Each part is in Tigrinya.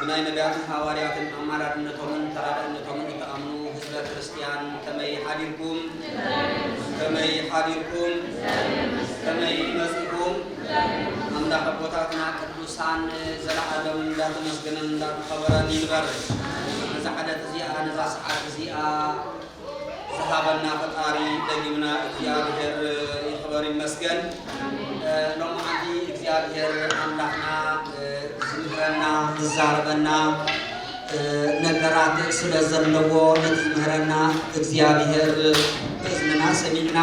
ብናይ ነብያትን ሃዋርያትን ኣማላድነቶምን ተራዳእነቶምን እትኣምኑ ህዝበ ክርስትያን ከመይ ሓዲርኩም? ከመይ ሓዲርኩም? ከመይ መጺእኩም? ኣምላኽ ኣቦታትና ቅዱሳን ዘለዓለም እንዳተመስገነን እንዳተኸበረን ይንበር። ነዛ ዕለት እዚኣ ነዛ ሰዓት እዚኣ ዝሃበና ፈጣሪ ደጊምና እግዚኣብሔር ይኽበር ይመስገን ሎምዓንቲ እግዚኣብሔር ኣምላኽና ዝምህረና ዝዛረበና ነገራት ስለዘለዎ ነቲ ዝምህረና እግዚኣብሔር እዝንና ሰሚዕና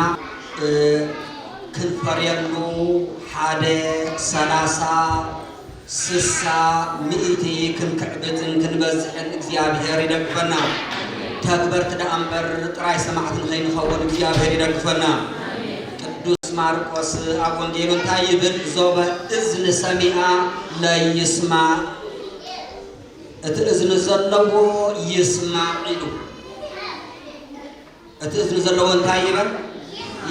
ክንፈርየሉ ሓደ ሰላሳ ስሳ ሚኢቲ ክንክዕብትን ክንበዝሕን እግዚኣብሔር ይደግፈና ተግበርቲ ደኣ እምበር ጥራይ ሰማዕቲ ንከይንከውን እግዚኣብሔር ይደግፈና ቅዱስ ማርቆስ ኣብ ወንጌሉ እንታይ ይብል ዞበ እዝኒ ሰሚኣ ለይስማዕ እቲ እዝኒ ዘለዎ ይስማዕ ኢሉ እቲ እዝኒ ዘለዎ እንታይ ይበል?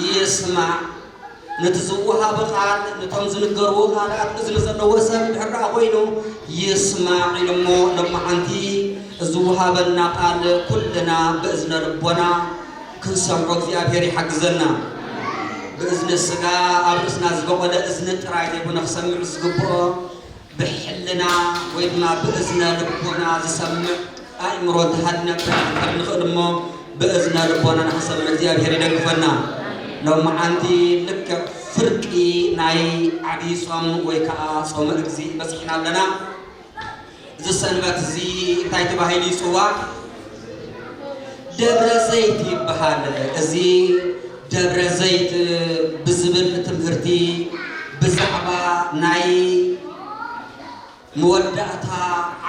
ይስማዕ። ነቲ ዝወሃብ ቃል ነቶም ዝንገርዎ ቃላት እዝኒ ዘለዎ ሰብ ድሕር ደኣ ኮይኑ ይስማዕ ኢሉ እሞ ሎማዓንቲ ዝወሃበና ቃል ኩልና ብእዝነ ልቦና ክንሰምዖ እግዚኣብሔር ይሓግዘና። ብእዝነ ስጋ ኣብ ርእስና ዝበቖለ እዝኒ ጥራይ ዘይኮነ ክሰምዕ ዝግብኦ ብሕልና ወይ ድማ ብእዝነ ልቦና ዝሰምዕ ኣእምሮ እንተሃልዩናብና ክንከድ ንኽእል እሞ ብእዝነ ልቦናና ክንሰምዕ እግዚኣብሄር ይደግፈና። ሎምዓንቲ ልክዕ ፍርቂ ናይ ዓቢይ ጾም ወይ ከኣ ጾመ እግዚእ በጺሕና ኣለና። እዚ ሰንበት እዚ እንታይ ተባሂሉ ይጽዋዕ? ደብረ ዘይት ይበሃል። እዚ ደብረ ዘይት ብዝብል ትምህርቲ ብዛዕባ ናይ መወዳእታ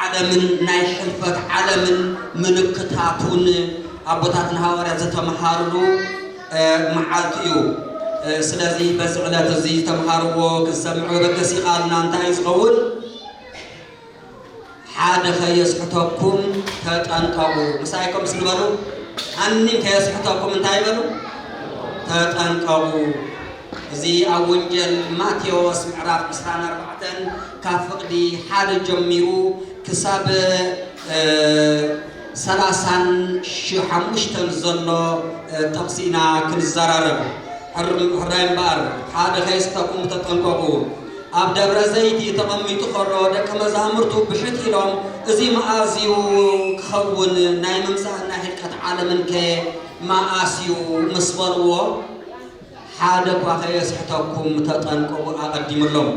ዓለምን ናይ ሕልፈት ዓለምን ምልክታቱን ኣቦታትና ሃዋርያት ዝተምሃርሉ መዓልቲ እዩ። ስለዚ በዚ ዕለት እዚ ዝተምሃርዎ ክሰምዑ በገስ ይቃልና እንታይ ዝኸውን ሓደ ከየስሕተኩም ተጠንቀቁ ምሳይ ከምስ ንበሉ ሃኒም ከየስሕተኩም እንታይ በሉ ተጠንቀቁ እዚ ኣብ ወንጀል ማቴዎስ ምዕራፍ 24 ካብ ፍቅዲ ሓደ ጀሚሩ ክሳብ ሰላሳን ሓሙሽተን ዘሎ ጥቕሲ ኢና ክንዘራረብ ሕራይ እምበኣር ሓደ ከየስሕተኩም ተጠንቀቁ ኣብ ደብረ ዘይቲ ተቐሚጡ ከሎ ደቀ መዛሙርቱ ብሕት ኢሎም እዚ መኣዝ እዩ ክኸውን ናይ ምምጻእን ናይ ህልቀት ዓለምን ከ መኣስ እዩ ምስ በልዎ ሓደ እኳ ከየስሕተኩም ተጠንቀቑ ኣቐዲምሎም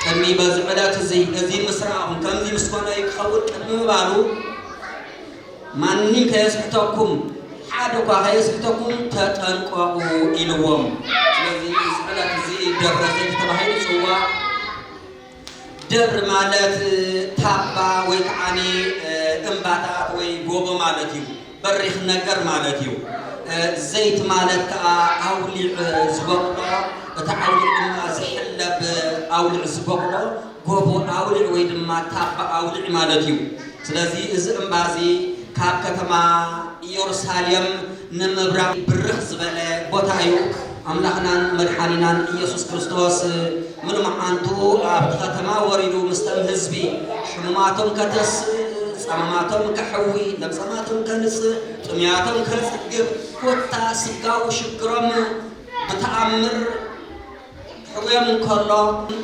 ቅድሚ በዚ ዕለት እዚ እዚ ምስ ረኣኹም ከምዚ ምስ ኮነ እዩ ክኸውን ቅድሚ ምባሉ ማንም ከየስሕተኩም፣ ሓደ'ኳ ከየስሕተኩም ተጠንቀቑ ኢልዎም። ስለዚ እዚ ዕለት እዚ ደብረ ዘይት ተባሂሉ ይጽዋዕ። ደብሪ ማለት ታባ ወይ ከዓኒ እምባታት ወይ ጎቦ ማለት እዩ። በሪኽ ነገር ማለት እዩ። ዘይት ማለት ከኣ ኣውሊዕ ዝበቕሎ እቲ ዓውሊዕ ድማ ዝሕለብ ኣውሊዕ ዝበቕሎ ጎቦ ኣውሊዕ ወይ ድማ ታባ ኣውሊዕ ማለት እዩ። ስለዚ እዚ እምባ እዚ ካብ ከተማ ኢየሩሳሌም ንምብራቕ ብርኽ ዝበለ ቦታ እዩ። ኣምላኽናን መድሓኒናን ኢየሱስ ክርስቶስ ምሉ መዓንቱ ኣብቲ ከተማ ወሪዱ ምስተም ህዝቢ ሕሙማቶም ከተስእ፣ ጸማማቶም ከሕዊ፣ ለምጸማቶም ከንጽህ፣ ጥሙያቶም ከጽግብ ኮታ ስጋዊ ሽግሮም ብተኣምር፣ ክሕውዮም እንከሎ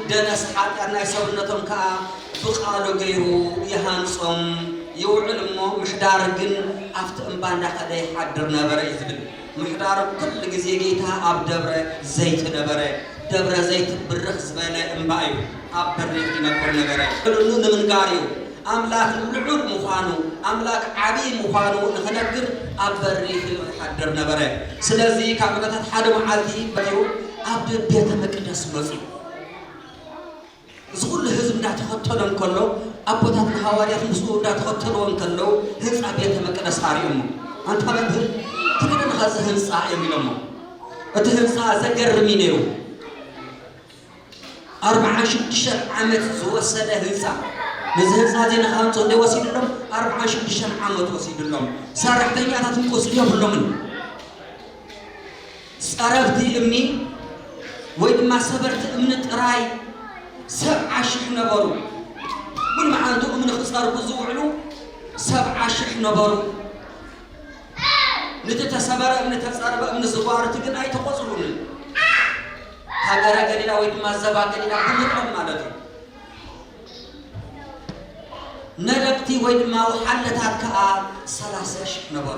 ደነስ ሓጢኣት ናይ ሰብነቶም ከኣ ብቓሉ ገይሩ ይሃንጾም ይውዕል እሞ ምሕዳር ግን ኣብቲ እምባ እንዳኸደ ይሓድር ነበረ እዩ ዝብል። ምሕዳር ኩሉ ግዜ ጌታ ኣብ ደብረ ዘይት ነበረ። ደብረ ዘይት ብርኽ ዝበለ እምባ እዩ። ኣብ በሪኽ ይነብር ነበረ። ንሉ ንምንጋር እዩ። ኣምላኽ ልዑል ምዃኑ፣ ኣምላኽ ዓቢይ ምዃኑ ንኽነግር ኣብ በሪ ኺሎ ይሓድር ነበረ። ስለዚ፣ ካብ ዕለታት ሓደ መዓልቲ በይሩ ኣብ ቤተ መቅደስ መጺኡ፣ እዚ ኹሉ ህዝቢ እንዳ ተኸተሎ እንከሎ፣ ኣቦታት ንሃዋርያት ምስኡ እንዳ ተኸተልዎ እንከለዉ፣ ህንጻ ቤተ መቅደስ ኣርእዮሞ። ኣንታ መምህር፣ ትግደንኻ እዚ ህንጻ እዮም ኢሎሞ። እቲ ህንጻ ዘገርም እዩ ነይሩ። ኣርብዓን ሽዱሽተን ዓመት ዝወሰደ ህንፃ ነዚ ህንፃ እዚ ንክሃንፁ ክንደይ ወሲድሎም? ኣርብዓን ሽዱሽተን ዓመት ወሲድሎም። ሰራሕተኛታት እውን ቁፅሪ የብሎምን። ፀረብቲ እምኒ ወይ ድማ ሰበርቲ እምኒ ጥራይ ሰብዓ ሽሕ ነበሩ። ሙሉ መዓልቱ እምኒ ክፀርቡ ዝውዕሉ ሰብዓ ሽሕ ነበሩ። ንቲ ተሰበረ እምኒ ተፀርበ እምኒ ዝጓርቲ ግን ኣይተቆፅሩንን። ሃገረ ገሊላ ወይ ድማ ዘባ ገሊላ ብምቕም ማለት እዩ። ነደቕቲ ወይ ድማ ውሓለታት ከዓ ሰላሰ ሽሕ ነበሩ።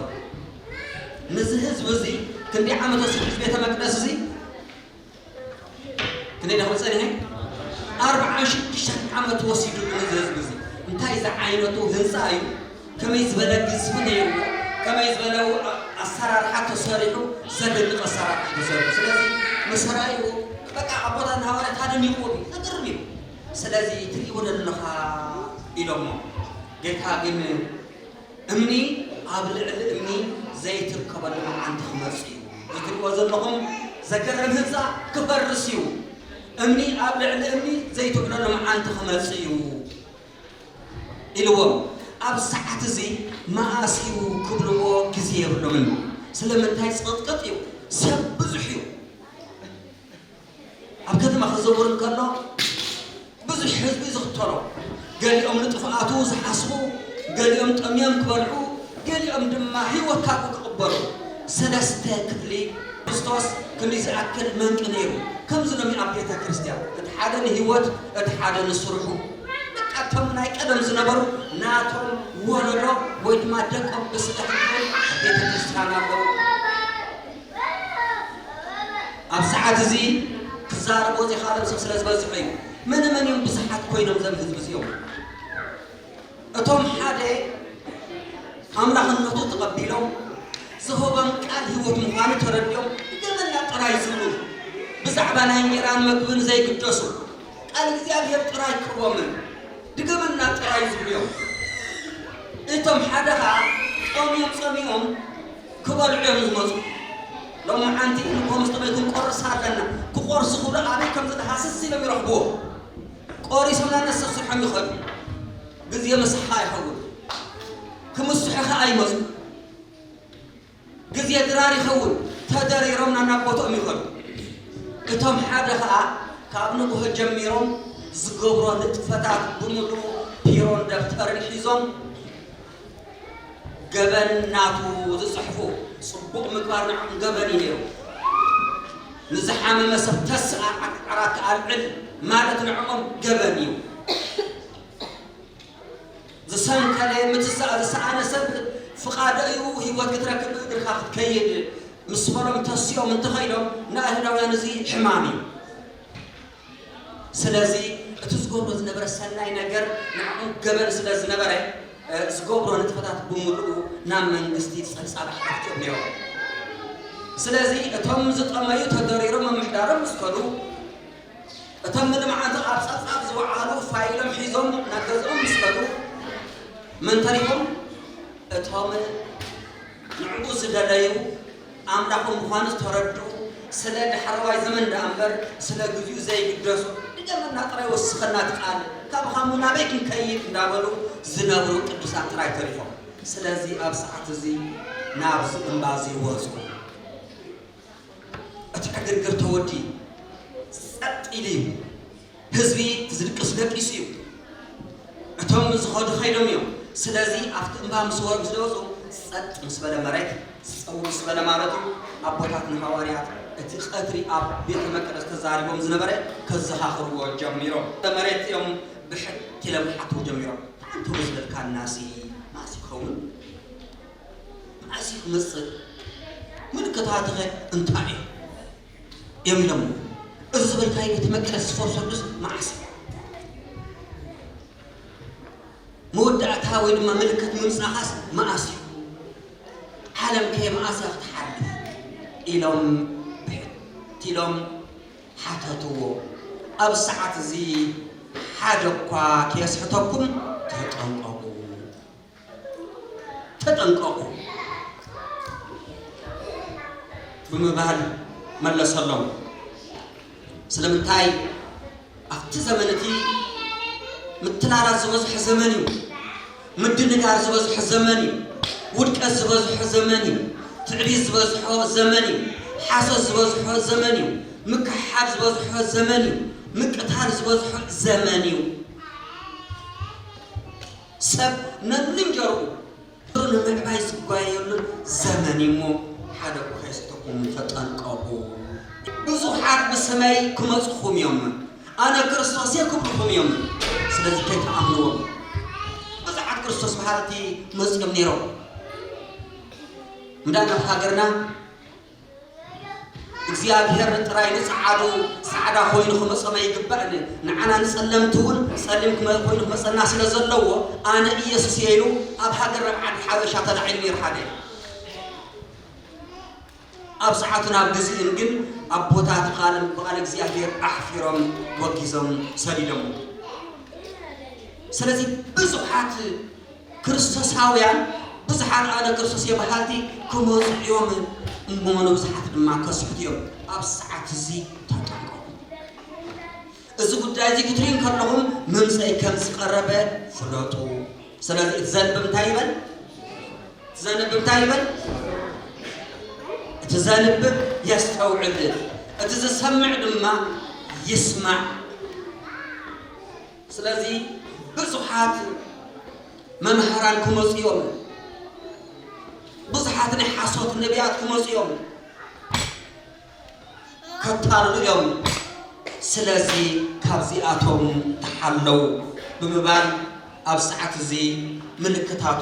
ንዚ ህዝቢ እዚ ክንዲ ዓመት ወሲዱ እዚ ቤተ መቅደስ እዚ ክንደይ ደኽሊ ጸኒሐ ኣርብዓን ሽዱሽተን ዓመት ወሲዱ ንዚ ህዝቢ እዚ እንታይ ዝዓይነቱ ህንፃ እዩ ከመይ ዝበለ ግዝፊ ነይርዎ ከመይ ዝበለ ኣሰራርሓ ተሰሪሑ ዘደንቅ ኣሰራርሓ ተሰሪሑ ስለዚ መሰራይኡ በቃ ኣቦታትና ሃዋርያት ኣደኒቅዎም እዩ ዘገርም እዩ ስለዚ ትሪኢዎ ዶ ኣለኻ ኢሎሞ ጌታ ግን እምኒ ኣብ ልዕሊ እምኒ ዘይትርከበሉ መዓንቲ ክመጽእ እዩ እዚ ትሪኢዎ ዘለኹም ዘገርም ህንጻ ክፈርስ እዩ እምኒ ኣብ ልዕሊ እምኒ ዘይትዕለሉ መዓንቲ ክመጽእ እዩ። ኢልዎም ኣብ ሰዓት እዚ መኣስ እዩ ክብልዎ ግዜ የብሎምን ስለምንታይ ጽቅጥቅጥ እዩ ሰብ ብዙሕ እዩ ኣብ ከተማ ክዘውር እንከሎ ብዙሕ ህዝቢ እዩ ዝኽተሎ ገሊኦም ንጥፍኣቱ ዝሓስቡ ገሊኦም ጠምዮም ክበልዑ ገሊኦም ድማ ህይወት ካብኡ ክቕበሉ ሰለስተ ክፍሊ ብዝተወስ ክንዲ ዝኣክል መንቂ ነይሩ ከምዚ ሎሚ ኣብ ቤተ ክርስቲያን እቲ ሓደ ንህይወት እቲ ሓደ ንስርሑ ደቃ እቶም ናይ ቀደም ዝነበሩ ናቶም ወለዶ ወይ ድማ ደቆም ብስጋ ሕድሮም ኣብ ቤተ ክርስቲያን ኣለዉ። ኣብ ሰዓት እዚ ክዛረቦ ዘይካሎም ሰብ ስለ ዝበዝሑ እዩ። መነ መን እዮም ብዙሓት ኮይኖም ዘም ህዝቢ እዚኦም? እቶም ሓደ ኣምላኽነቱ ተቐቢሎም ዝህቦም ቃል ህይወት ምዃኑ ተረዲኦም ገመና ጥራይ ዝብሉ ብዛዕባ ናይ እንጀራን መግብን ዘይግደሱ ቃል እግዚኣብሔር ጥራይ ክቦምን ድገመልና ጥራይ ዝብልዮም እቶም ሓደ ከኣ ጾምዮም ጸሚኦም ክበልዑዮም ዝመጹ ሎምዓንቲ ንኮምስቲ ቤት ንቆርስ ኣለና ክቆርሱ ክብሉ ኣበይ ከምዝድሃስስ ኢሎም ይረኽብዎ ቆሪሶም ናነብ ስርሖም ይኸዱ ግዜ ምሳሓ ይኸውን ክምስሑ ከኣ ይመጹ ግዜ ድራር ይኸውን፣ ተደሪሮም ናናብ ቦትኦም ይኸዱ። እቶም ሓደ ኸኣ ካብ ንግሆ ጀሚሮም ዝገብሮ ንጥፈታት ብምሉኡ ፒሮን ደፍተርን ሒዞም ገበን ናቱ ዝጽሕፉ። ጽቡቕ ምግባር ንዕኦም ገበን እዩ ነይሩ። ንዝሓመመ ሰብ ተስእ ኣርዓክ ዓራት ኣልዕል ማለት ንዕኦም ገበን እዩ። ዝሰንከለ ምትዛእ ዝሰኣነ ሰብ ፍቃድ እዩ ህይወት ክትረክብ ብእግርካ ክትከይድ ምስ በሎም ተሲኦም እንተኸይዶም ንኣይሁዳውያን እዚ ሕማም እዩ ስለዚ እቲ ዝገብሮ ዝነበረ ሰናይ ነገር ንዕኡ ገበን ስለ ዝነበረ ዝገብሮ ንጥፈታት ብምልኡ ናብ መንግስቲ ጸብጻብ ኣሕቲትዮም ነይሮም ስለዚ እቶም ዝጠመዩ ተደሪሮም ምምሕዳሮም ምስ ከዱ እቶም ንልምዓቱ ኣብ ጸብጻብ ዝወዓሉ ፋይሎም ሒዞም ናብ ገዝኦም ምስ ከዱ መን ተሪፎም? እቶም ንዕኡ ዝደለዩ ኣምላኾም ምዃኑ ዝተረድኡ ስለ ዳሕረዋይ ዘመን ደኣ እምበር ስለ ግዚኡ ዘይግደሱ ድገመልና ጥራይ ወስኸልና እቲ ቃል ካብኻ እሞ ናበይ ክንከይድ እንዳበሉ ዝነብሩ ቅዱሳን ጥራይ ተሪፎም። ስለዚ ኣብ ሰዓት እዚ ናብዚ እምባዚ ወጹ። እቲ ዕግርግር ተወዲኡ ጸጥ ኢሉ እዩ። ህዝቢ ዝድቅሱ ደቂሱ እዩ። እቶም ዝኸዱ ከይዶም እዮም። ስለዚ ኣብቲ እምባ ምስ ወር ምስ ደወጹ ጸጥ ምስ በለ መሬት ጸው ምስ በለ ማለት እዩ ኣቦታት ንሃዋርያት እቲ ቀትሪ ኣብ ቤተ መቅደስ ተዛሪቦም ዝነበረ ከዘኻኽርዎ ጀሚሮም። መሬት እዮም ብሕት ኢሎም ክሓትዎ ጀሚሮም። ኣንታ ወዝበልካናሲ መኣስ ይኸውን? መዓስ'ዩ ክመጽእ? ምልክታትኸ እንታይ እዮም? ኢሎሞ። እዚ ዝበልካዮ እቲ መቅደስ ዝፈርሰሉስ መዓስ እዩ? መወዳእታ ወይ ድማ ምልክት ምምጻኻስ መዓስ እዩ? ዓለምከ መዓስ እያ ክትሓልፍ? ኢሎም ብሕት ኢሎም ሓተትዎ። ኣብ ሰዓት እዚ ሓደ'ኳ ከየስሕተኩም ተጠንቀቑ። ተጠንቀቑ ብምባል መለሰሎም። ስለምንታይ ኣብቲ ዘመን እቲ ምትላላት ዝበዝሖ ዘመን እዩ። ምድንጋር ዝበዝሖ ዘመን እዩ። ውድቀት ዝበዝሖ ዘመን እዩ። ትዕቢት ዝበዝሖ ዘመን እዩ። ሓሶት ዝበዝሖ ዘመን እዩ። ምክሕሓብ ዝበዝሖ ዘመን እዩ። ምቅታል ዝበዝሖ ዘመን እዩ። ሰብ ነብልንጀርኡ ፍቕሩ ንምዕባይ ዝጓየየሉን ዘመንዩሞ ሓደ እኳ ከየስተኹም ተጠንቀቑ። ብዙሓት ብስመይ ክመጹኹምዮምን ኣነ ክርስቶስየ ክብሉኹምዮምን፣ ስለዚ ከይትኣምንዎም። ብዙሓት ክርስቶስ በሃልቲ መጺኦም ነይሮም እምበኣር ናብ ሃገርና፣ እግዚኣብሄር ጥራይ ንጸዓዱ ጻዕዳ ኮይኑ ክመጾም ኣይግባእን እዩ። ንዓና ንጸለምቲ ውን ጸሊም ኮይኑ ክመጸና ስለ ዘለዎ ኣነ ኢየሱስ እየ ኢሉ ኣብ ሃገር ናብ ዓዲ ሓበሻ ተላዒሉ ነይሩ ሓደ ኣብ ሰዓቱን ኣብ ግዚኡን ግን ኣቦታት ቃል ብቃል እግዚኣብሄር ኣሕፊሮም ወጊዞም ሰዲዶሞ ስለዚ ብዙሓት ክርስቶሳውያን ብዙሓት ኣነ ክርስቶስ እየ በሃልቲ ክመጹ እዮም እሞ ንብዙሓት ድማ ከስሕቱ እዮም ኣብዚ ሰዓት እዚ ተጠንቀቁ እዚ ጉዳይ እዚ ክትሪኡ ከለኹም ምምፀይ ከም ዝቀረበ ፍለጡ ስለዚ እቲ ዘንብብ እንታይ ይበል እቲ ዘንብብ እንታይ ይበል እቲ ዘንብብ የስተውዕል እቲ ዝሰምዕ ድማ ይስማዕ ስለዚ ብዙሓት መምህራን ክመጹ እዮም፣ ብዙሓት ናይ ሓሶት ነቢያት ክመጹ እዮም፣ ከታልሉ እዮም፣ ስለዚ ካብዚኣቶም ተሓለው ብምባል ኣብ ሰዓት እዚ ምልክታቱ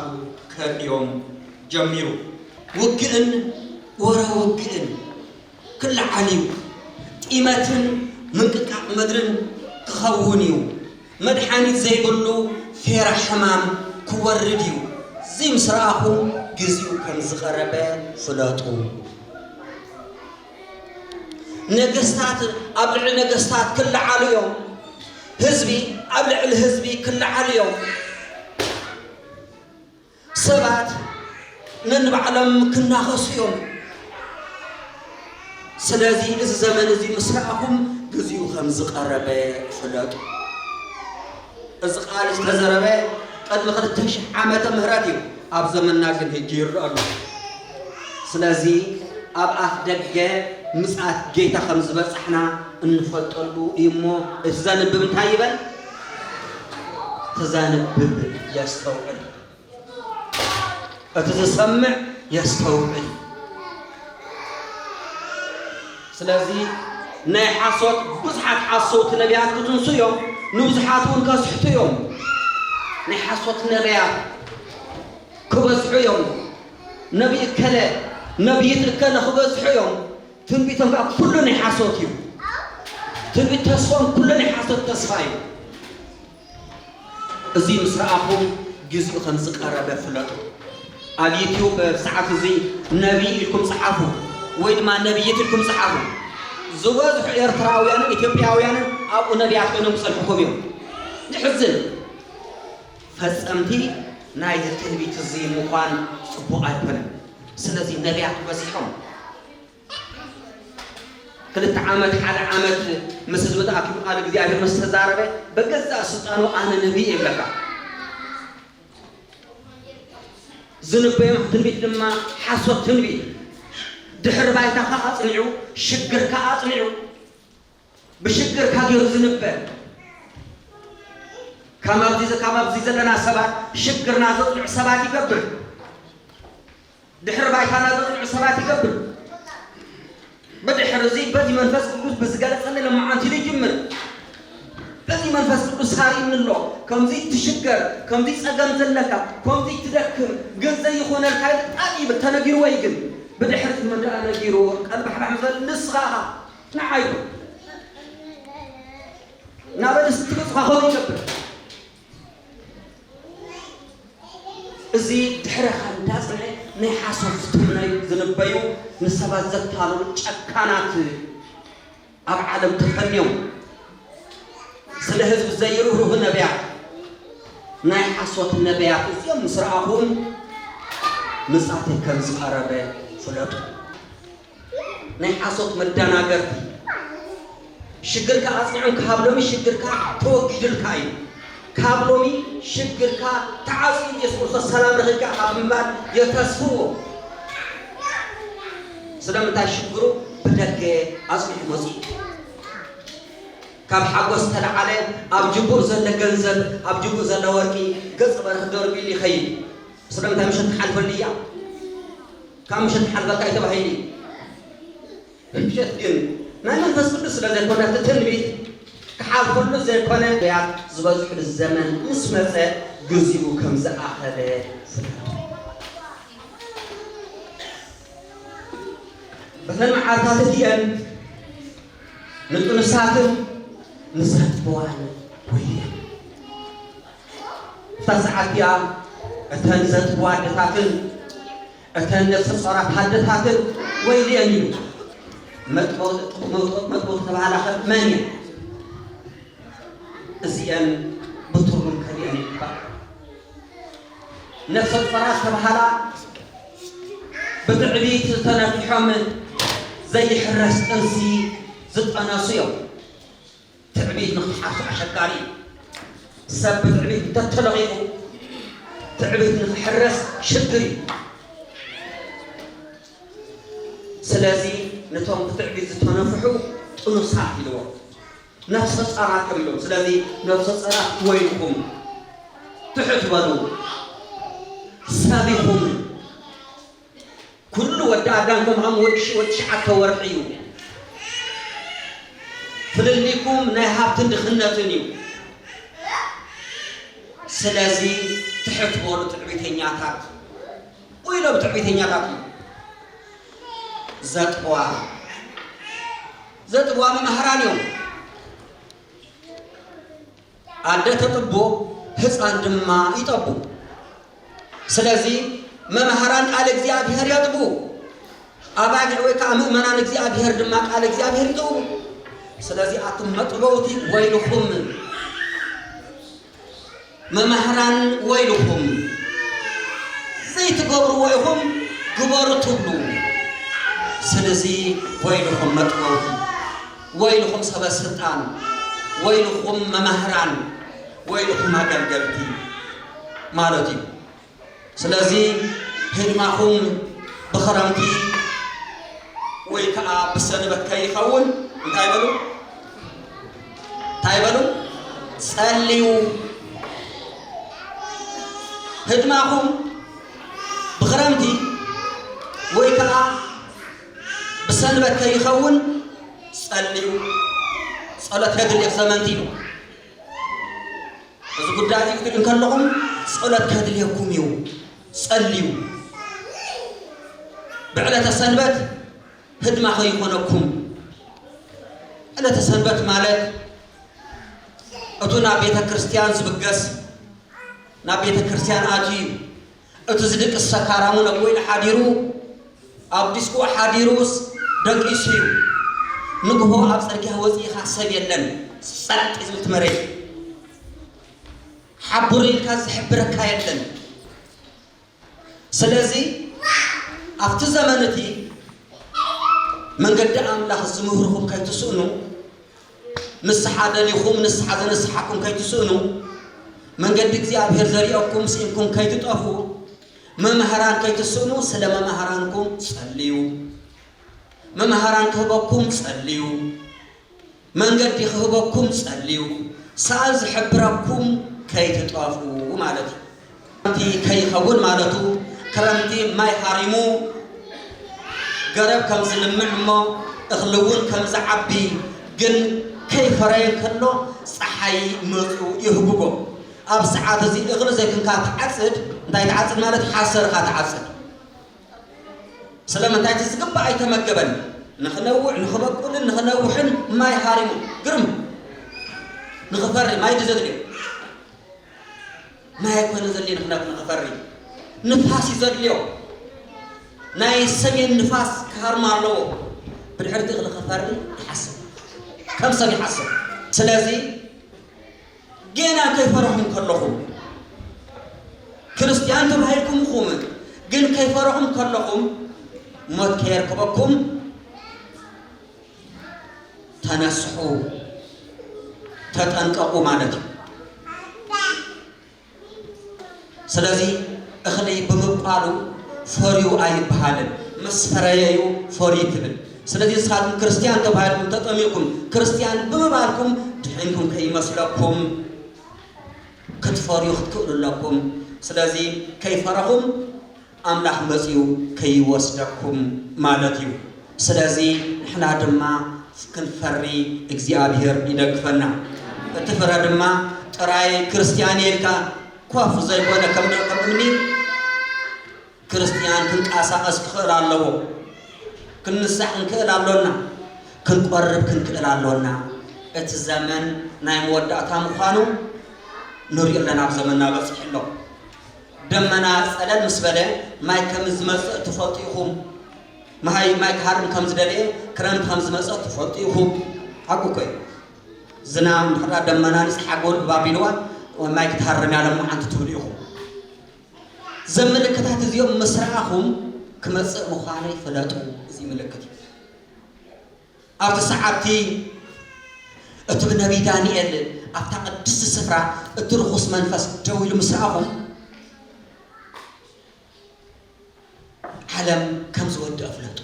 ከርእዮም ጀሚሩ። ውግእን ወረ ውግእን። ክለዓል እዩ፣ ጢመትን ምንቅጥቃጥ ምድርን ክኸውን እዩ፣ መድሓኒት ዘይብሉ ፌራ ሕማም ክወርድ እዩ፣ እዚ ምስ ረኣኹም ግዜኡ ከም ዝቐረበ ፍለጡ። ነገስታት ኣብ ልዕሊ ነገስታት ክለዓሉ እዮም፣ ህዝቢ ኣብ ልዕሊ ህዝቢ ክለዓሉ እዮም። ሰባት ነንባዕሎም ክናኸሱ እዮም። ስለዚ እዚ ዘመን እዚ ምስ ረኣኹም ግዚኡ ከም ዝቐረበ ፍለጡ። እዚ ቃል ዝተዘረበ ቅድሚ ክልተ ሽሕ ዓመተ ምህረት እዩ። ኣብ ዘመንና ግን ሕጂ ይርአ ኣሎ። ስለዚ ኣብ ኣፍ ደገ ምጽኣት ጌታ ከም ዝበጻሕና እንፈልጠሉ እዩ እሞ እቲ ዘንብብ እንታይ ይበል? እቲ ዘንብብ የስተውዕል፣ እቲ ዝሰምዕ የስተውዕል። ስለዚ ናይ ሓሶት ብዙሓት ሓሰውቲ ነቢያት ክትንሱ እዮም፣ ንብዙሓት እውን ከስሕቱ እዮም። ናይ ሓሶት ነቢያት ክበዝሑ እዮም፣ ነቢይ እከለ ነቢይት እከለ ክበዝሑ እዮም። ትንቢቶም ከኣ ኩሉ ናይ ሓሶት እዩ። ትንቢት ተስፎም ኩሉ ናይ ሓሶት ተስፋ እዩ። እዚ ምስ ረኣኹም ግዜኡ ከም ዝቐረበ ፍለጡ። ኣብ ዩቱብ ኣብዚ ሰዓት እዚ ነብዪ ኢልኩም ጽሓፉ ወይ ድማ ነብዪት ኢልኩም ጽሓፉ። ዝበዝሑ ኤርትራውያንን ኢትዮጵያውያንን ኣብኡ ነብያት ኮይኖም ክጸንሑኩም እዮም። የሕዝን። ፈጸምቲ ናይዚ ትንቢት እዚ ምዃን ጽቡቕ ኣይኮነን። ስለዚ ነብያት በዚሖም ክልተ ዓመት ሓደ ዓመት ምስ ህዝቢ ተኣኪቡ ቃል እግዚኣብሔር ምስ ተዛረበ በገዛእ ስልጣኑ ኣነ ነቢይ እየ ይብለካ። ዝንበዮም ትንቢት ድማ ሓሶት ትንቢት ድሕሪ ባይታኻ ኣጽኒዑ ሽግርካ ኣጽኒዑ ብሽግር ካብ ጌሩ ዝንበ ካብ ኣብዚ ዘለና ሰባት ሽግርና ዘጽንዑ ሰባት ይገብር ድሕሪ ባይታና ዘጽንዑ ሰባት ይገብር ብድሕሪ እዚ በዚ መንፈስ ቅዱስ ብዝገለጸኒ ለማዓንቲ ይጅምር በዚ መንፈስ ቅዱስ ሳሪኒ ኣሎ ከምዚ ትሽገር ከምዚ ጸገም ዘለካ ከምዚ ትደክም ግን ዘይኾነልካ ብጣዕሚ ተነጊርዎ እዩ ግን ብድሕሪ ዝመደኣ ነጊርዎ ቀልባሕባሕ ዝበል ንስኻ ንዓይ ናበል ዝትብጽኻ ኸም ይገብር እዚ ድሕረኻ እንዳጽንዐ ናይ ሓሶት ዝትምነዩ ዝንበዩ ንሰባት ዘታልሉ ጨካናት ኣብ ዓለም ተፈንዮም ስለ ህዝቢ ዘይርህሩህ ነብያት ናይ ሓሶት ነብያት እዚኦም ምስ ረኣኹም ምጻተይ ከም ዝቐረበ ፍለጡ። ናይ ሓሶት መዳናገርቲ ሽግርካ ኣጽኒዑም ካብ ሎሚ ሽግርካ ተወጊዱልካ እዩ ካብ ሎሚ ሽግርካ ተዓጽዩ ኢየሱስ ክርስቶስ ሰላም ረኺብካ ኢኻ ብምባል የተስፍዎ ስለምንታይ ሽግሩ ብደገ ኣጽኒዑ መጽኡ ካብ ሓጎስ ተለዓለ ኣብ ጅቡእ ዘለ ገንዘብ ኣብ ጅቡእ ዘለ ወርቂ ገጽ በርህ ደርቢሉ ይኸይድ ስለምንታይ ምሸት ትሓልፈሉ እያ ካብ ምሸት ክሓልፈካ እዩ ተባሂሉ እዩ። ምሸት ግን ናይ መንፈስ ቅዱስ ስለ ዘይኮነ እቲ ትንቢት ክሓልፈሉ ዘይኮነ ነቢያት ዝበዝሕሉ ዘመን ምስ መጸ ግዚኡ ከም ዝኣኸለ ፍለጡ። በተን መዓልታት እቲኤን ንጥኑሳትን ንዘጥፍዋን ወዮ። ኣብታ ሰዓት እቲኣ እተን ዘጥቡ ኣደታትን እተን ነፍሰ ጾራት ኣደታትን ወይልኤን ኢሉ መጥበውቲ ተባህላኸ መን እየን እዚኤን ብትርጉም ከሊአን ይግባእ ነፍሰ ጾራት ተባህላ ብትዕቢት ዝተነፊሖም ዘይሕረስ ጥንሲ ዝጠነሱ እዮም ትዕቢት ንኽሓፍስ ኣሸጋሪ እዩ። ሰብ ብትዕቢት እንተተለኺፉ ትዕቢት ንኽሕረስ ሽግር እዩ። ስለዚ ነቶም ብትዕቢት ዝተነፍሑ ጥኑሳት ኢልዎ ነፍሰ ጸራት እዮም ኢሎም። ስለዚ ነፍሰ ጸራት ወይልኩም ትሑት በሉ ሰቢኹም ኩሉ ወዲ ኣዳም ከም ሃም ወዲ ሽወ ትሽዓተ ወርሒ እዩ። ፍልልይኩም ናይ ሃብትን ድኽነትን እዩ። ስለዚ ትሕት በሉ ትዕቢተኛታት ኢሎም ትዕቢተኛታት እዩ ዘጥዋ ዘጥዋ መምህራን እዮም። ኣደ ተጥቡ ህጻን ድማ ይጠቡ ስለዚ መማህራን ቃል እግዚኣብሔር የጥቡ ኣባጊዕ ወይ ከኣ ምእመናን እግዚኣብሔር ድማ ቃል እግዚኣብሔር ይጥቡ ስለዚ ኣቱም መጥበውቲ ወይልኹም መማህራን ወይልኹም ዘይትገብርዎ ኢኹም ግበሩ ትብሉ ስለዚ ወይልኹም መጥበውቲ ወይልኹም ሰበስልጣን ወይልኹም መማህራን ወይልኹም ኣገልገልቲ ማለት እዩ ስለዚ ህድማኹም ብኽረምቲ ወይ ከኣ ብሰንበት ከይኸውን እንታይ በሉ እንታይ በሉ ጸልዩ ህድማኹም ብኽረምቲ ወይ ከኣ ብሰንበት ከይኸውን ጸልዩ፣ ጸሎት ከድሊ ዘመንቲ እዩ። እዚ ጉዳይ እዚ ክትብል ከለኹም ጸሎት ከድልየኩም እዩ፣ ጸልዩ። ብዕለተ ሰንበት ህድማ ከይኾነኩም። ዕለተ ሰንበት ማለት እቱ ናብ ቤተ ክርስቲያን ዝብገስ ናብ ቤተ ክርስቲያን ኣትዩ እዩ። እቲ ዝድቅስ ሰካራምውን ኣብ ወይኒ ሓዲሩ ኣብ ዲስኩ ሓዲሩስ ደቂሱ እዩ ንግሆ ኣብ ጽርግያ ወጺኢኻ ሰብ የለን ጸጥ እዩ ዝብል እቲ መሬት ሓቡር ኢልካ ዝሕብረካ የለን ስለዚ ኣብቲ ዘመን እቲ መንገዲ ኣምላኽ ዝምህርኹም ከይትስእኑ ንስሓ ደሊኹም ንስሓ ዘነስሓኩም ከይትስእኑ መንገዲ እግዚኣብሔር ዘሪኦኩም ስኢንኩም ከይትጠፍኡ መምህራን ከይትስእኑ ስለ መምህራንኩም ጸልዩ መምህራን ክህበኩም ጸልዩ መንገዲ ክህበኩም ጸልዩ ሰኣል ዝሕብረኩም ከይትጠፍኡ ማለት እዩ ክረምቲ ከይኸውን ማለቱ ክረምቲ ማይ ሃሪሙ ገረብ ከም ዝልምዕ እሞ እኽሊ እውን ከም ዝዓቢ ግን ከይፈረየ ከሎ ፀሓይ መፅኡ የህጉጎ ኣብ ሰዓት እዚ እኽሊ ዘይኩንካ ትዓፅድ እንታይ ትዓፅድ ማለት ሓሰር እኻ ትዓፅድ ስለምንታይ እቲ ዝግባእ ኣይተመገበን ንኽነውዕ ንኽበቁልን ንኽነውሕን ማይ ሃሪሙ ግርም ንኽፈሪ ማይ ድዩ ዘድልዮ ማይ ኣይኮነ ዘድልዮ ንክነት ንክፈሪ ንፋስ እዩ ዘድልዮ ናይ ሰሜን ንፋስ ክሃርማ ኣለዎ ብድሕሪ እቲ እኽሊ ክፈሪ ይሓስብ ከም ሰብ ይሓስብ ስለዚ ገና ከይፈረኹም ከለኹም ክርስቲያን ተባሂልኩም ኹም ግን ከይፈረኹም ከለኹም ሞት ከየርከበኩም ተነስሑ ተጠንቀቁ ማለት እዩ። ስለዚ እኽሊ ብምብቋሉ ፈርዩ ኣይበሃልን ምስ ፈረየዩ ፈርዩ ትብል ስለዚ ንስኻትኩም ክርስትያን ተባሂልኩም ተጠሚቕኩም ክርስትያን ብምባልኩም ድሕንኩም ከይመስለኩም ክትፈርዩ ክትክእሉ ኣለኩም ስለዚ ከይፈረኹም ኣምላኽ መጺኡ ከይወስደኩም ማለት እዩ ስለዚ ንሕና ድማ ክንፈሪ እግዚኣብሄር ይደግፈና እቲ ፍረ ድማ ጥራይ ክርስትያን እየ ኢልካ ኮፍ ዘይኮነ ከም ደቂ እምኒ ክርስትያን ክንቀሳቀስ ክኽእል ኣለዎ ክንንሳሕ ክንክእል ኣሎና ክንቆርብ ክንክእል ኣሎና እቲ ዘመን ናይ መወዳእታ ምዃኑ ንሪኦ ኣለና ኣብ ዘመንና በፂሑ ኣሎ ደመና ጸለል ምስ በለ ማይ ከም ዝመጽእ ትፈልጡ ኢኹም። ማይ ማይ ክሃርም ከም ዝደለየ ክረምቲ ከም ዝመጸ ትፈልጡ ኢኹም። ሓቁ እኮ እዩ። ዝናብ እንድሕር ደመና ንጽ ሓጎር እባ ቢልዋ ማይ ክትሃርም ያለ መዓንቲ ትብሉ ኢኹም። ዘም ምልክታት እዚኦም ምስ ረኣኹም ክመጽእ ምዃኑ ይፈለጡ። እዚ ምልክት እዩ። ኣብቲ ሰዓትቲ እቲ ብነቢይ ዳንኤል ኣብታ ቅድስቲ ስፍራ እቲ ርኹስ መንፈስ ደው ኢሉ ምስ ረኣኹ ዓለም ከም ዝወድእ ፍለጡ።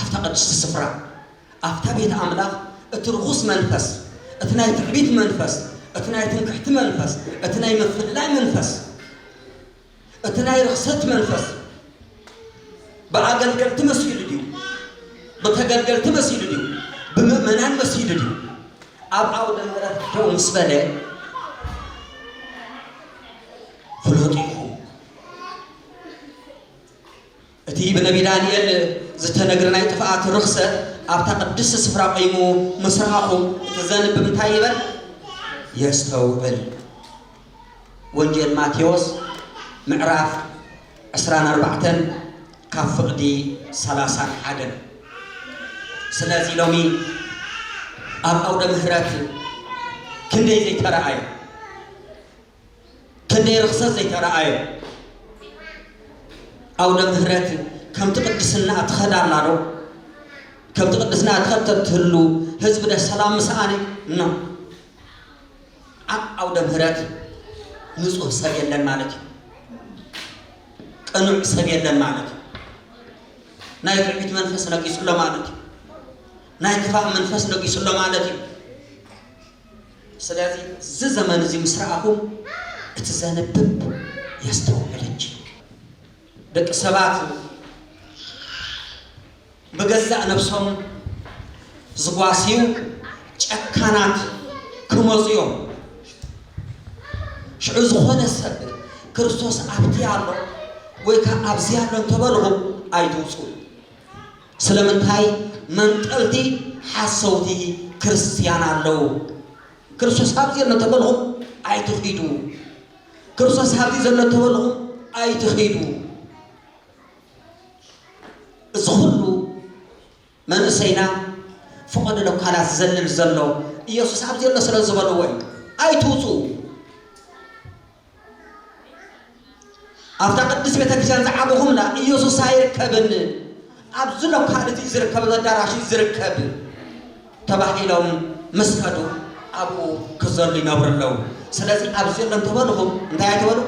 ኣብታ ቅድስቲ ስፍራ ኣብታ ቤት ኣምላኽ እቲ ርኹስ መንፈስ እቲ ናይ ትዕቢት መንፈስ እቲ ናይ ትምክሕቲ መንፈስ እቲ ናይ ምፍልላይ መንፈስ እቲ ናይ ርኽሰት መንፈስ ብኣገልገልቲ መሲሉ ድዩ? ብተገልገልቲ መሲሉ ድዩ? ብምእመናን መሲሉ ድዩ? ኣብ ዓውደ ምሕረት ደው ምስ በለ ፍለጡ ኢኹም። እቲ ብነብዪ ዳንኤል ዝተነግረ ናይ ጥፍኣት ርኽሰት ኣብታ ቅድስቲ ስፍራ ቚይሙ ምስ ረኣኹም፣ እቲ ዘንብብ እንታይ ይበል? የስተውዕል። ወንጌል ማቴዎስ ምዕራፍ ዕስራን ኣርባዕተን ካብ ፍቕዲ ሰላሳን ሓደን። ስለዚ ሎሚ ኣብ ኣውደ ምሕረት ክንደይ ዘይተረኣየ! ክንደይ ርኽሰት ዘይተረኣዮ ኣውደ ምህረት ከምቲ ቅድስና ትኸዳ ኣላ ዶ ከምቲ ቅድስና ትኸተብ ትህሉ ህዝቢ ደ ሰላም ምስኣነ ኖ ኣብ ኣውደ ምህረት ንጹህ ሰብ የለን ማለት እዩ ቅኑዕ ሰብ የለን ማለት እዩ ናይ ትዕቢት መንፈስ ነጊሱሎ ማለት እዩ ናይ ክፋእ መንፈስ ነጊሱሎ ማለት እዩ ስለዚ እዚ ዘመን እዚ ምስ ረኣኹም እቲ ዘንብብ የስተውዕል እንጂ ደቂ ሰባት ብገዛእ ነብሶም ዝጓስዩ ጨካናት ክመጹ እዮም። ሽዑ ዝኾነ ሰብ ክርስቶስ ኣብቲ ኣሎ ወይ ከኣ ኣብዚ ኣሎ እንተበልኹም ኣይትውጹ። ስለምንታይ መንጠልቲ ሓሰውቲ ክርስትያን ኣለዉ? ክርስቶስ ኣብዚ ኣሎ ተበልኹም ኣይትኺዱ። ክርስቶስ ኣብዚ ዘሎ ተበልኹም ኣይትኺዱ። እዚ ኹሉ መንእሰይና ፍቐዶ ለኳላት ዝዘልል ዘሎ ኢየሱስ ኣብዚ ኣሎ ስለ ዝበልዎ እዩ። ኣይትውፅኡ ኣብታ ቅድስት ቤተ ክርስቲያን ዝዓበኹምላ ኢየሱስ ኣይርከብን ኣብዚ ሎካል እዚ ዝርከብ ኣዳራሽ ዝርከብ ተባሂሎም ምስ ከዱ ኣብኡ ክዘሉ ይነብሩ ኣለዉ ስለዚ ኣብዚ ኣሎ እንተበልኹም እንታይ ኣይትበሉ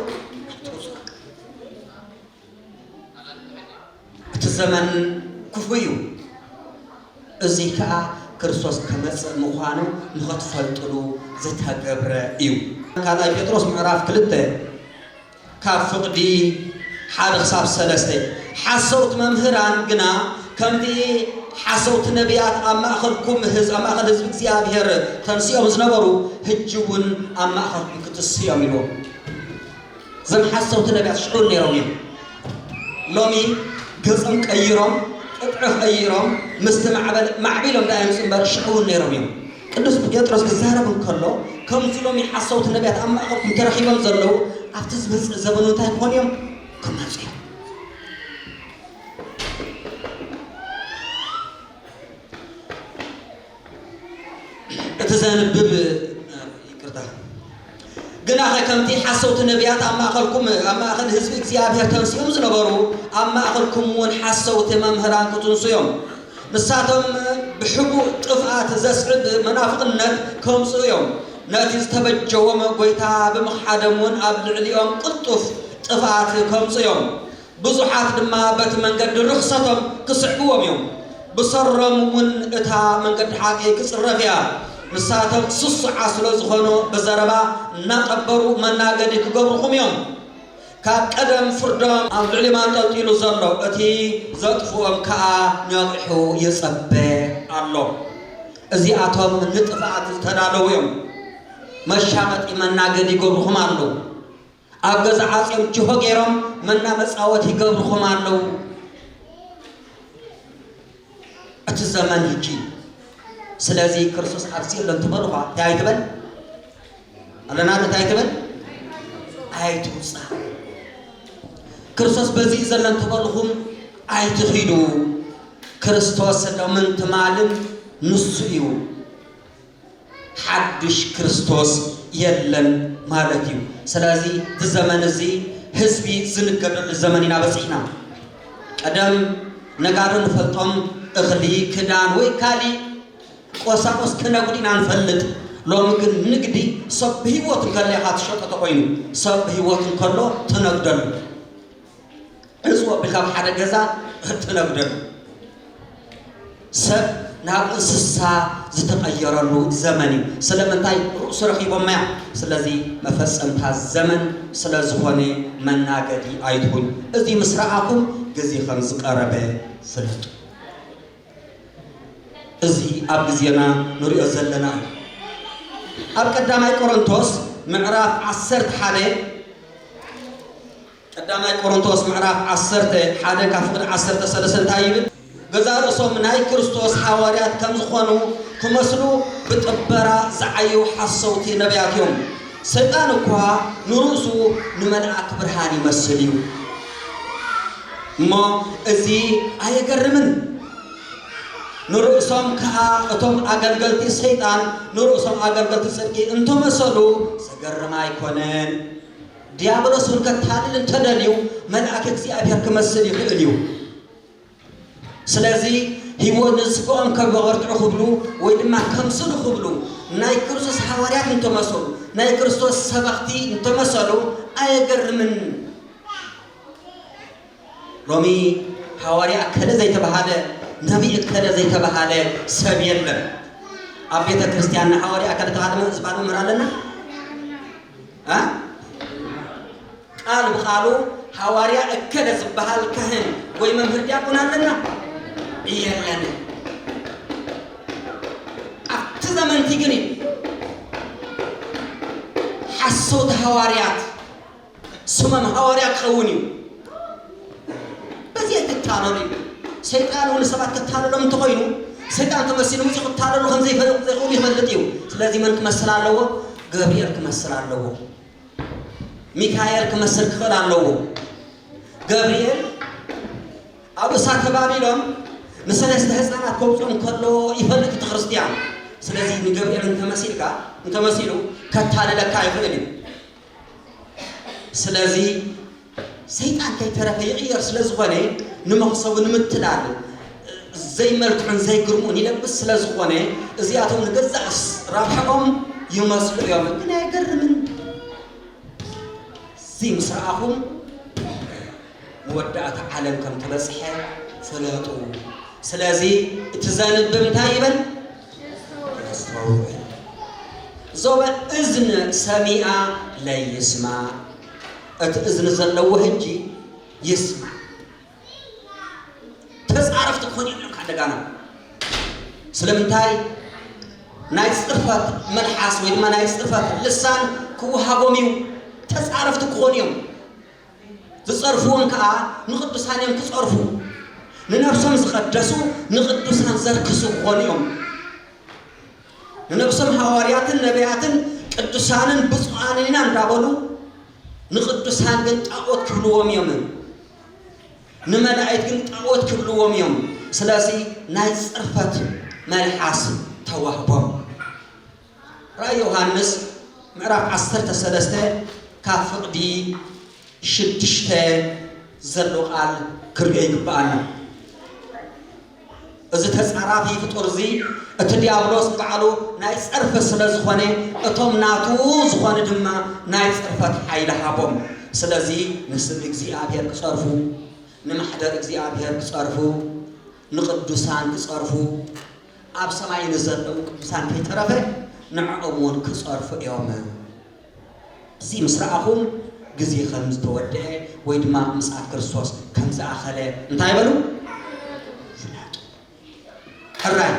እቲ ዘመን ክፉእ እዩ፣ እዙይ ከዓ ክርስቶስ ከመፅእ ምዃኑ ንኸትፈልጥሉ ዝተገብረ እዩ። ካልኣይ ጴጥሮስ ምዕራፍ ክልተ ካብ ፍቕዲ ሓደ ክሳብ ሰለስተ ሓሰውቲ መምህራን ግና ከምቲ ሓሰውቲ ነቢያት ኣብ ማእኸልኩም ህዝ ኣብ ማእኸል ህዝቢ እግዚኣብሔር ተንስኦም ዝነበሩ ህጂ እውን ኣብ ማእኸልኩም ክትስዮም ኢሉ እዞም ሓሰውቲ ነብያት ሽዑ ነይሮም እዮም ሎሚ ገጾም ቀይሮም ቅጥዒ ቀይሮም ምስቲ ማዕበል ማዕቢሎም ደኣ ይምጹ እምበር ሽዑ እውን ነይሮም እዮም ቅዱስ ጴጥሮስ ክዛረብ እንከሎ ከምዚ ሎሚ ሓሰውቲ ነብያት ኣብ ማእኸልኩም ተረኺቦም ዘለዉ ኣብቲ ዝመጽእ ዘበኑ እንታይ ክኾኑ እዮም ክመጹ እዮም እቲ ዘንብብ ይቅርታ ግናኸ ከምቲ ሓሰውቲ ነቢያት ኣብ ማእኸልኩም ኣብ ማእኸል ህዝቢ እግዚኣብሔር ተንስኦም ዝነበሩ ኣብ ማእኸልኩም እውን ሓሰውቲ መምህራን ክትንሱ እዮም ንሳቶም ብሕቡእ ጥፍኣት ዘስዕብ መናፍቕነት ከምፅኡ እዮም ነቲ ዝተበጀዎም ጎይታ ብምኽሓዶም እውን ኣብ ልዕሊኦም ቅልጡፍ ጥፍኣት ከምፁ እዮም ብዙሓት ድማ በቲ መንገዲ ርኽሰቶም ክስዕብዎም እዮም፣ ብሰሮም እውን እታ መንገዲ ሓቂ ክጽረፍ እያ። ንሳቶም ስሱዓት ስለ ዝዀኑ ብዘረባ እናጠበሩ መናገዲ ክገብሩኹም እዮም። ካብ ቀደም ፍርዶም ኣብ ልዕሊኦም ኣንጠልጢሉ ዘሎ እቲ ዘጥፍኦም ከኣ ነቒሑ ይጸበ ኣሎ። እዚኣቶም ንጥፍኣት ዝተዳለዉ እዮም፣ መሻቐጢ መናገዲ ይገብሩኹም ኣለዉ። ኣብ ገዛ ዓጽዮም ጅሆ ጌሮም መና መጻወት ይገብርኹም ኣለዉ እቲ ዘመን ህጂ ስለዚ ክርስቶስ ኣብዚ ኣሎ እንትበልኳ እንታይ ኣይትበል ኣለና ዶ እንታይ ትበል ኣይትውጻእ ክርስቶስ በዚ እዩ ዘሎ እንትበልኹም ኣይትኺዱ ክርስቶስ ሎምን ትማልን ንሱ እዩ ሓዱሽ ክርስቶስ የለን ማለት እዩ። ስለዚ እዚ ዘመን እዚ ህዝቢ ዝንገደሉ ዘመን ኢና በፂሕና። ቀደም ነጋዶ ንፈልጦም እኽሊ፣ ክዳን ወይ ካሊእ ቆሳቁስ ክነጉድ ኢና ንፈልጥ። ሎሚ ግን ንግዲ ሰብ ብህይወት እንከሎ ኢኻ ትሸጦ ተኾይኑ፣ ሰብ ብህይወት እንከሎ ትነግደሉ። ዕጽው ኣቢልካ ኣብ ሓደ ገዛ እትነብደሉ፣ ሰብ ናብ እንስሳ ዝተቐየረሉ ዘመን እዩ። ስለምንታይ? ርእሱ ረኺቦማያ። ስለዚ መፈጸምታ ዘመን ስለ ዝኾነ መናገዲ ኣይትኹን። እዚ ምስ ረኣኹም ግዜ ከም ዝቐረበ ፍለጡ። እዚ ኣብ ግዜና ንሪኦ ዘለና እዩ። ኣብ ቀዳማይ ቆሮንቶስ ምዕራፍ ዓሰርተ ሓደ ቀዳማይ ቆሮንቶስ ምዕራፍ ዓሰርተ ሓደ ካብ ፍቕዲ ዓሰርተ ሰለስተ እንታይ ይብል? ገዛእ ርእሶም ናይ ክርስቶስ ሓዋርያት ከም ዝኾኑ ክመስሉ ብጥበራ ዝዓዩ ሓሰውቲ ነብያት እዮም። ሰይጣን እኳ ንርእሱ ንመልኣክ ብርሃን ይመስል እዩ እሞ እዚ ኣየገርምን? ንርእሶም ከኣ እቶም ኣገልገልቲ ሰይጣን ንርእሶም ኣገልገልቲ ጽድቂ እንተመሰሉ ዘገርም ኣይኮነን። ዲያብሎስ እውን ከታልል እንተደልዩ መልኣክ እግዚኣብሔር ክመስል ይኽእል እዩ። ስለዚ ህይወት ንስጋኦም ከም መበርትዑ ክብሉ ወይ ድማ ከምስሉ ክብሉ ናይ ክርስቶስ ሓዋርያት እንተመሰሉ ናይ ክርስቶስ ሰበኽቲ እንተመሰሉ ኣየገርምን። ሎሚ ሓዋርያ እከለ ዘይተባሃለ ነቢይ እከለ ዘይተባሃለ ሰብ የለን። ኣብ ቤተ ክርስቲያንና ሓዋርያ እከለ ተባሃለ ዝበሃል መምህር ኣለና? ቃል ብቃሉ ሃዋርያ እከለ ዝበሃል ካህን ወይ መምህር ዲያቆን ኣለና የለንን። ኣብቲ ዘመንቲ ግን እዩ ሓሶት ሃዋርያት ስሞም ሃዋርያ ክኸውን እዩ። በዚ ኣይትታለሉ ይብል። ሰይጣን እውን ንሰባት ከታልሎም እንተኾይኑ፣ ሰይጣን ተመሲሉ መጺኡ ክታለሉ ከም ዘይፈ ዘይክእሉ ይፈልጥ እዩ። ስለዚ መን ክመስል ኣለዎ? ገብርኤል ክመስል ኣለዎ። ሚካኤል ክመስል ክኽእል ኣለዎ። ገብርኤል ኣብ እሳተ ባቢሎን ንሰለስተ ህፃናት ከውፅኦም ከሎ ይፈልጥ እቲ ክርስቲያን። ስለዚ ንገብርኤል እንተመሲልካ እንተመሲሉ ከታልለካ ይኽእል እዩ። ስለዚ ሰይጣን ከይተረፈ ይቕየር ስለ ዝኾነ ንመኽሰቡ ንምትላል ዘይመልክዑን ዘይግርሙን ይለብስ ስለ ዝኾነ እዚኣቶም ንገዛእ ረብሐኦም ይመስሉ እዮም ግን ኣይገርምን እዚ ምስ ረኣኹም መወዳእታ ዓለም ከም ተበፅሐ ፍለጡ ስለዚ እቲ ዘንብብ እንታይ ይበል ተስተውዕል ዞበ እዝን ሰሚኣ ለይስማ እቲ እዝኒ ዘለዎ ህጂ ይስማ ተፃረፍቲ ክኾኑ እዮም ካብ ደጋና ስለምንታይ ናይ ፅርፈት መልሓስ ወይ ድማ ናይ ፅርፈት ልሳን ክወሃቦም እዩ ተፃረፍቲ ክኾኑ እዮም ዝጸርፍዎም ከኣ ንቅዱሳን እዮም ክጸርፉ ንነብሶም ዝቀደሱ ንቅዱሳን ዘርክሱ ክኾኑ እዮም ንነብሶም ሃዋርያትን ነቢያትን ቅዱሳንን ብፁዓንን ኢና እንዳበሉ ንቅዱሳን ግን ጣዖት ክብልዎም እዮም ንመላእክት ግን ጣዖት ክብልዎም እዮም ስለዚ ናይ ጽርፈት መልሓስ ተዋህቦም ራእይ ዮሃንስ ምዕራፍ ዓሰርተ ሰለስተ ካብ ፍቕዲ ሽዱሽተ ዘሎ ቃል ክርኦ ይግብኣና። እዚ ተጻራፊ ፍጡር እዚ እቲ ዲያብሎስ ባዕሉ ናይ ጸርፊ ስለ ዝኾነ እቶም ናቱ ዝኾኑ ድማ ናይ ጽርፈት ሓይሊ ሃቦም። ስለዚ ንስም እግዚኣብሔር ክጸርፉ፣ ንማሕደር እግዚኣብሔር ክጸርፉ፣ ንቅዱሳን ክጸርፉ፣ ኣብ ሰማይ ንዘለዉ ቅዱሳን ከይተረፈ ንዕኦም እውን ክጸርፉ እዮም። እዚ ምስ ረኣኹም ግዜ ከም ዝተወድኤ ወይ ድማ ምጽኣት ክርስቶስ ከም ዝኣኸለ እንታይ በሉ ፍለጡ። ሕራይ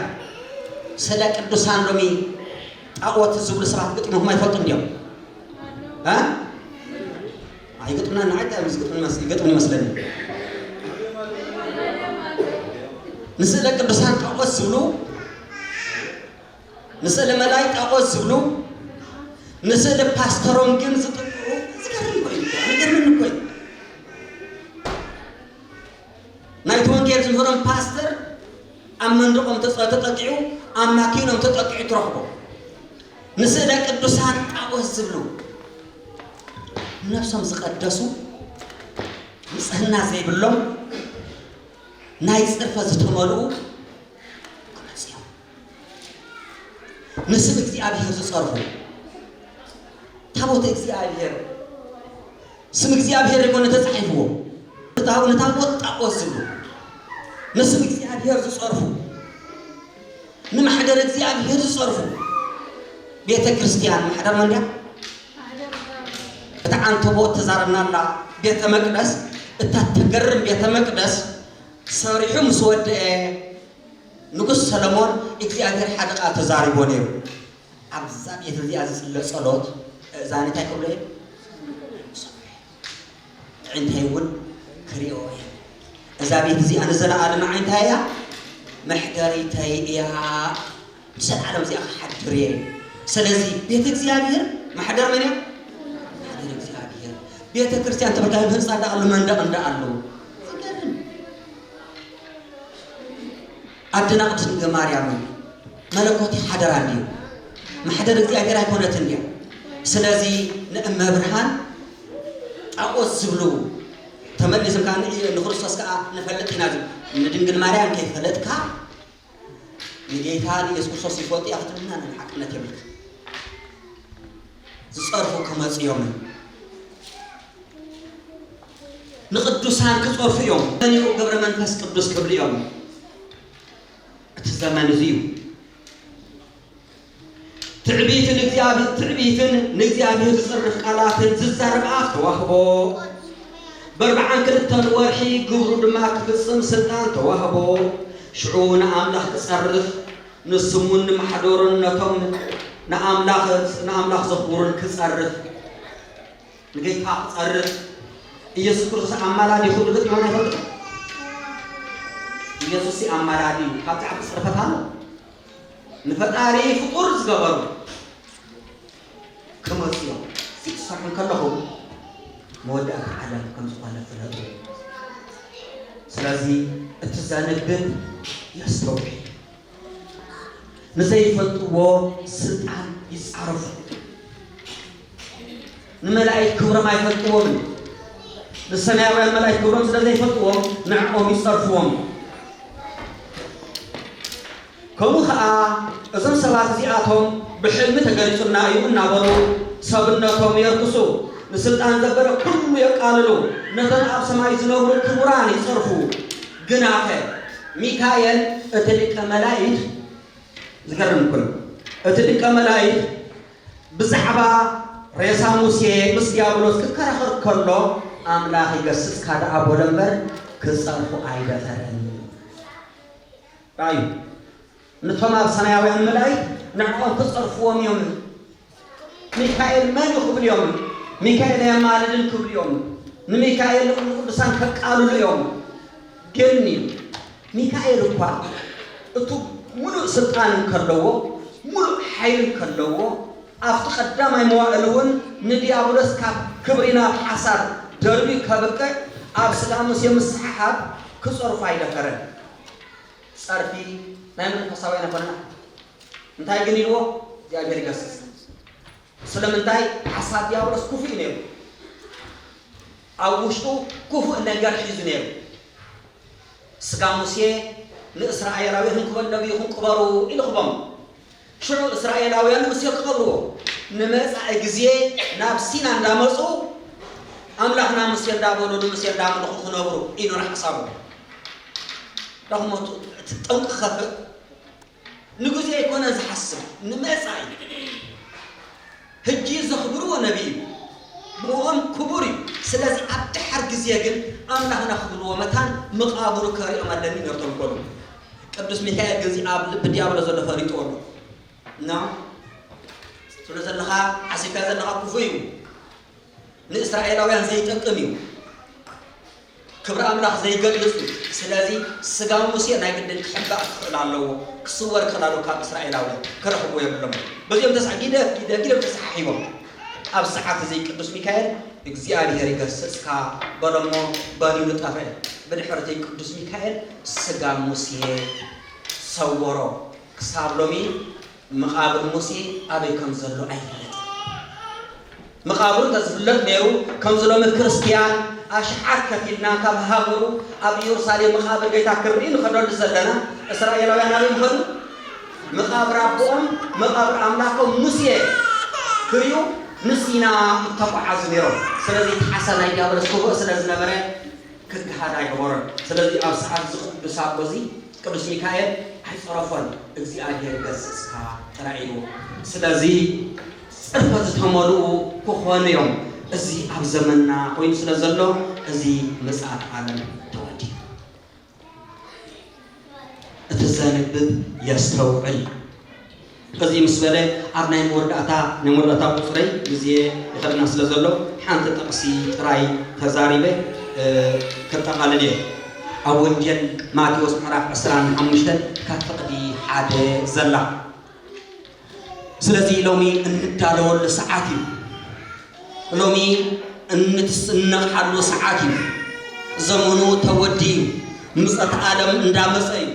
ስለ ቅዱሳን ሎሚ ጣዖት ዝብሉ ሰባት ግጥሞም ኣይፈልጡን ድዮም? እ ኣይገጥምናን ንዓይ እንታይ እዩ ዝገጥመኒ መስ ይገጥም ይመስለኒ ንስእለ ቅዱሳን ጣዖት ዝብሉ ንስእለ መላይ ጣዖት ዝብሉ ንስእለ ፓስተሮም ግን ዝጥቅሩ ዝገርም እኮ እዩ እኮ፣ ዝገርም እኮ እዩ ናይቲ ወንጌል ዝምህሮም ፓስተር ኣብ መንድቆም ተጠቂዑ ኣብ ማኪኖም ተጠቂዑ ትረኽቦ ንስእለ ቅዱሳን ጣዖት ዝብሉ ነብሶም ዝቀደሱ ንጽህና ዘይብሎም ናይ ጽርፈ ዝተመልኡ ንስም እግዚኣብሄር ዝጸርፉ ታቦተ እግዚኣብሄር ስም እግዚኣብሄር ይኮነ ተጻሒፍዎ እታው ንታቦት ጣዖት ዝብሉ ንስም እግዚኣብሄር ዝጸርፉ ንማሕደር እግዚኣብሄር ዝጸርፉ ቤተ ክርስቲያን ማሕደር መን ድያ? እታ ዓንተቦ እተዛረብና ኣላ ቤተ መቅደስ እታ ተገርም ቤተ መቅደስ ሰሪሑ ምስ ወደአ ንጉስ ሰሎሞን እግዚኣብሄር ሓደ ቃል ተዛሪብዎ ነይሩ። ኣብዛ ቤት እዚኣ ዝጽለ ጸሎት እእዛነይ እንታይ ክብሎ እየን? ክሰምዑ እየን። ኣዒንተይ እውን ክሪኦ እየን። እዛ ቤት እዚኣ ንዘለኣለም ኣዒንታይ እያ? መሕደሪተይ እያ። ንዘለኣለም እዚኣ ክሓድር እየ። ስለዚ ቤት እግዚኣብሄር ማሕደር መን እያ? ማሕደር እግዚኣብሄር። ቤተ ክርስቲያን ተበልካ ህንፃ እንዳኣሉ መንደቕ እንዳኣሉ ኣደና ቅድስት ድንግል ማርያም መለኮት ሓደራ እንዲዩ ማሕደር እግዚኣብሔር ኣይኮነትን እያ ስለዚ ንእመብርሃን ጣዖት ዝብሉ ተመሊሶም ከዓ ንክርስቶስ ከዓ ንፈልጥ ኢና ዝብ ንድንግል ማርያም ከይፈለጥካ ንጌታ ንየሱስ ክርስቶስ ይፈልጡ እያ ክትብልና ንሓቅነት የብልካ ዝጸርፉ ክመጹ ኢዮምን ንቅዱሳን ክጸርፉ ኢዮም መኒኡ ግብረ መንፈስ ቅዱስ ክብሉ ኢዮም እቲ ዘመን እዚ እዩ ትዕቢትን እግዚኣብሔር ትዕቢትን ንእግዚኣብሔር ዝጽርፍ ቃላትን ዝዛረብ ኣፍ ተዋህቦ በርብዓን ክልተን ወርሒ ግብሩ ድማ ክፍጽም ስልጣን ተዋህቦ ሽዑ ንኣምላኽ ክጸርፍ ንሱም ውን ንማሕዶሩን ነቶም ንኣምላኽ ዘኽብሩን ክጸርፍ፣ ንጌታ ክጸርፍ፣ ኢየሱስ ክርስቶስ ኣማላዲ ክብሉ ገጢሞም ይፈልጡ ዶ? ኢየሱስ ሲ ኣማላዲ እዩ ካብዚ ዓቢ ጽርፈት ኣሎ? ንፈጣሪ ፍቁር ዝገበሩ ክመጹ እዮም። እዚ ክትሰርሑ እንከለኹም መወዳእታ ዓለም ከም ዝኾነ ፍለጡ። ስለዚ እቲ ዘንብብ የስተውዕል። ንዘይፈልጥዎ ስልጣን ይጻረፉ። ንመላእክት ክብሮም ኣይፈልጥዎምን እዩ። ንሰማያውያን መላእክት ክብሮም ስለ ዘይፈልጥዎም ንዕኦም ይጸርፍዎም እዩ። ከምኡ ከኣ እዞም ሰባት እዚኣቶም ብሕልሚ ተገሊጹና እዩ እናበሉ ሰብነቶም የርክሱ፣ ንስልጣን ዘበለ ኩሉ የቃልሉ፣ ነቶም ኣብ ሰማይ ዝነብሩ ክቡራን ይጸርፉ። ግናኸ ሚካኤል እቲ ሊቀ መላኢት ዝገርም እኮ እዩ እቲ ሊቀ መላኢት ብዛዕባ ሬሳ ሙሴ ምስ ዲያብሎስ ክከራኸር ከሎ ኣምላኽ ይገስጽካ ደኣ በሎ እምበር ክጸርፉ ኣይደፈረን። ኣዩ ንቶም ኣብ ሰማያውያን መላኢክት ንዕኦም ክጸርፍዎም እዮም ሚካኤል መን እዩ ክብሉ እዮም ሚካኤል ኣየማልድን ክብሉ እዮም ንሚካኤል ንኹሉ ቅዱሳን ከቃልሉ እዮም ግን እዩ ሚካኤል እኳ እቱ ሙሉእ ስልጣን እንከለዎ ሙሉእ ሓይል እንከለዎ ኣብቲ ቀዳማይ መዋእል እውን ንዲያብሎስ ካብ ክብሪ ናብ ሓሳር ደርቢ ከብቅዕ ኣብ ስጋ ሙሴ ምስሓሓብ ክጸርፎ ኣይደፈረን ጸርፊ ናይ መንፈሳዊ ኣይነኮነን ኣሕዋት እንታይ ግን ኢልዎ እግዚኣብሔር ይገስጽ ስለምንታይ ሓሳብ ዲያብሎስ ክፉእ እዩ ነይሩ ኣብ ውሽጡ ክፉእ ነገር ሒዙ ነይሩ ስጋ ሙሴ ንእስራኤላዊ ክንክበል ነቢይኹም ቅበሩ ኢልኹቦም ሽዑ እስራኤላውያን ሙሴ ክቐብርዎ ንመጻኢ ግዜ ናብ ሲና እንዳመጹ ኣምላኽና ሙሴ እንዳበሉ ንሙሴ እንዳምልኹ ክነብሩ እዩ ነይሩ ሓሳቦም። ዳኹሞቱ እቲ ጠንቂ ክኸፍእ ንግዜ ኣይኮነን ዝሓስብ ንመጻኢ ህጂ ዘኽብርዎ ነብይ እዩ ብእኦም ክቡር እዩ ስለዚ ኣብ ደሓር ግዜ ግን ኣምላኽና ክብልዎ መታን ምቃብሩ ከርእዮም ኣለኒ ነር ተንኮሉ ቅዱስ ሚካኤል ግን እዚ ኣብ ልቢ ድያብሎስ ዘሎ ፈሊጥዎ ኣሎ እና ትብሎ ዘለኻ ዓሲብካዮ ዘለኻ ክፉእ እዩ ንእስራኤላውያን ዘይጠቅም እዩ ክብሪ ኣምላኽ ዘይገልጽ እዩ ስለዚ ስጋ ሙሴ ናይ ግድን ክሕባእ ክኽእል ኣለዎ ክስወር ክኽእል ኣለዎ ካብ እስራኤላውያን ክረኽብዎ የብሎምን በዚኦም ተሳ ጊደፍ ጊደፍ ጊደፍ ተሰሓሒቦም ኣብ ሰዓት እዚ ቅዱስ ሚካኤል እግዚኣብሔር ይገስጽካ በሎ እሞ በኒኑ ጠፍአ ብድሕር እቲ ቅዱስ ሚካኤል ስጋ ሙሴ ሰወሮ ክሳብ ሎሚ መቓብር ሙሴ ኣበይ ከም ዘሎ ኣይፍለጥን። መቓብሩ እንተ ዝፍለጥ ነይሩ፣ ከምዚ ሎሚ ክርስትያን ኣሽሓት ከፊልና ካብ ሃገሩ ኣብ ኢየሩሳሌም መቓብር ጌታ ክንርኢ ንኸደሉ ዘለና፣ እስራኤላውያን ኣበይ ምኸዱ? መቓብር ኣቦኦም፣ መቓብር ኣምላኮም ሙሴ ክሪኡ ንሲና እተጓዓዙ ነይሮም። ስለዚ እቲ ሓሳብ ናይ ዲያብሎስ ክፉእ ስለ ዝነበረ ክግሃድ ኣይገበሮን። ስለዚ ኣብ ሰዓት እዚ ቅዱስ ኣቦ እዚ ቅዱስ ሚካኤል ኣይጸረፎን እግዚኣብሔር ገስጽካ ጥራይ ኢልዎ። ስለዚ ጽርፈት ዝተመልኡ ክኾኑ እዮም እዚ ኣብ ዘመንና ኮይኑ ስለ ዘሎ እዚ ምጽኣት ዓለም ተወዲኡ። እቲ ዘንብብ የስተውዕል። ኸዚ ምስ በለ ኣብ ናይ መወዳእታ ናይ መወዳእታ ቁጽረይ ግዜ ይኸደና ስለ ዘሎ ሓንቲ ጥቕሲ ጥራይ ተዛሪበ ከጠቓልል እየ። ኣብ ወንጌል ማቴዎስ ምዕራፍ ዕስራን ሓሙሽተን ካብ ፍቕዲ ሓደ ዘላ። ስለዚ ሎሚ እንዳለወሉ ሰዓት እዩ። ሎሚ እንትስነቕሓሉ ሰዓት እዩ። ዘመኑ ተወዲ እዩ። ምጸት ኣለም እንዳመጸ እዩ።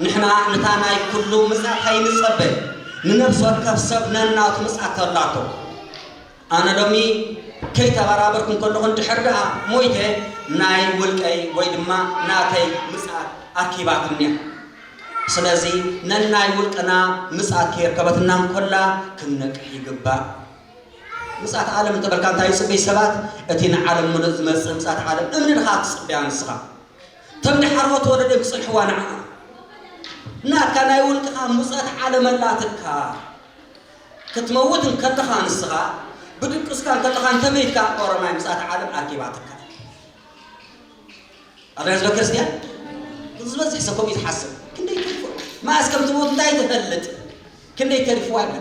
ንሕና ንታ ናይ ኩሉ ምጽኣት ኣይንጸበ። ንነፍሲ ወከፍ ሰብ ነናቱ ምጽኣት ተላቶ። ኣነ ሎሚ ከይተበራበርኩ እንከለኹ እንድሕር ደኣ ሞይተ ናይ ውልቀይ ወይ ድማ ናተይ ምጽኣት ኣርኪባትኒ እያ። ስለዚ ነናይ ውልቅና ምጽኣት ከየርከበትና እንኮላ ክንነቅሕ ይግባእ። ምጽኣት ዓለም እንተበልካ እንታይ ይጽበዩ ሰባት? እቲ ንዓለም ምሉእ ዝመጽእ ምጽኣት ዓለም እምኒ ድኻ ትጽበያ ንስኻ? እቶም ድሓርዎት ወለዶ ክጽንሕዋ ንዓኣ ናትካ ናይ ውልቅኻ ምጽኣት ዓለም ኣላትካ። ክትመውት እንከለኻ ንስኻ ብድቅስካ እንከለኻ እንተመይትካ ኦሮማይ ምጽኣት ዓለም ኣኪባትካ። ኣበይ ህዝበ ክርስትያን እዚ ዝበዝሕ ሰብ ከምኡ እዩ ዝሓስብ ክንደይ ተሪፉ መኣስ ከም ትሞት እንታይ ትፈልጥ ክንደይ ተሪፉ ኣለ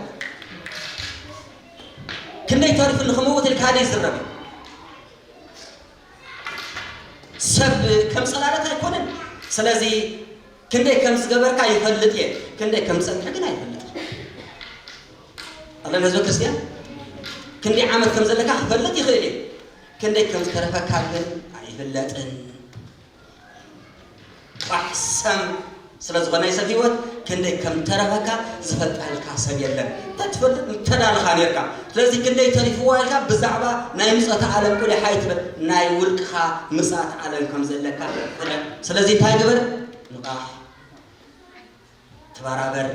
ክንደይ ተሪፉ ንክመውት ኢልካ ሓደ ይዝረብ ሰብ ከም ፀላለት ኣይኮነን ስለዚ ክንደይ ከም ዝገበርካ ይፈልጥ እየ ክንደይ ከም ፀንሐ ግን ኣይፈልጥ ኣለና ህዝበ ክርስትያን ክንደይ ዓመት ከም ዘለካ ክፈልጥ ይኽእል እዩ ክንደይ ከም ዝተረፈካ ግን ኣይፍለጥን ቃሕ ሰም ስለ ዝኾነ ናይ ሰብ ህይወት ክንደይ ከም ተረፈካ ዝፈልጣልካ ሰብ የለን ተትፈልጥ ምተዳልኻ ነርካ ስለዚ ክንደይ ተሪፍዋ ኢልካ ብዛዕባ ናይ ምፀታ ዓለም ቁሊሕ ኣይትበል ናይ ውልቅኻ ምፅኣት ዓለም ከም ዘለካ ፍለጥ ስለዚ እንታይ ግበር ንቓሕ ተበራበር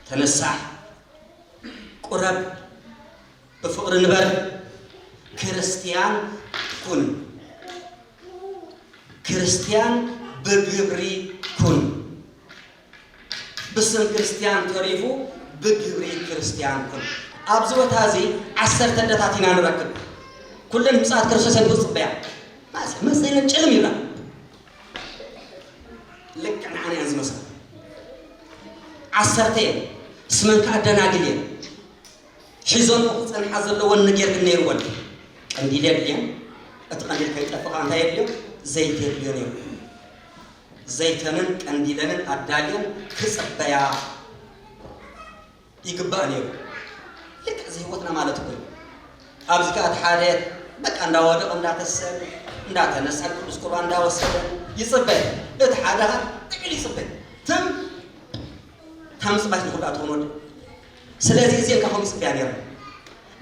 ተነሳሕ ቁረብ ብፍቕሪ ንበር ክርስትያን ኩን ክርስትያን ብግብሪ ኩን ብስም ክርስትያን ተሪፉ ብግብሪ ክርስትያን ኩን ኣብዚ ቦታ እዚ ዓሰርተ ደታት ኢና ንረክብ ኩለን ምፅኣት ክርስቶስ እየን ዝፅበያ መፅለን ጭልም ይብላ ልክዕ ንዓና እየን ዝመስላ ዓሰርተ እየን ስመን ከዓ ደናግል እየን ሒዘንኦ ክጸንሓ ዘለወን ነገር ግን ነይርወን ድዩ? ቀንዲል የድልየን፣ እቲ ቀንዲል ከይጠፍእ ከኣ እንታይ የድልዮ? ዘይቲ የድልዮ ነይሩ። ዘይተንን ቀንዲለንን ኣዳልየን ክጽበያ ይግባእ ነይሩ። ልክዕ እዚ ህይወትና ማለት እኮ እዩ። ኣብዚ ከኣ እቲ ሓደ በቃ እንዳወደቐ እንዳተሰብ እንዳተነሳ ቅዱስ ቁርባን እንዳወሰደ ይጽበ፣ እቲ ሓደ ጥቅል ይጽበ ትም ታምጽባይ ንኹዳት ወኖድ ስለዚ እዚኤን ካባኹም ይጽበያ ኔረን።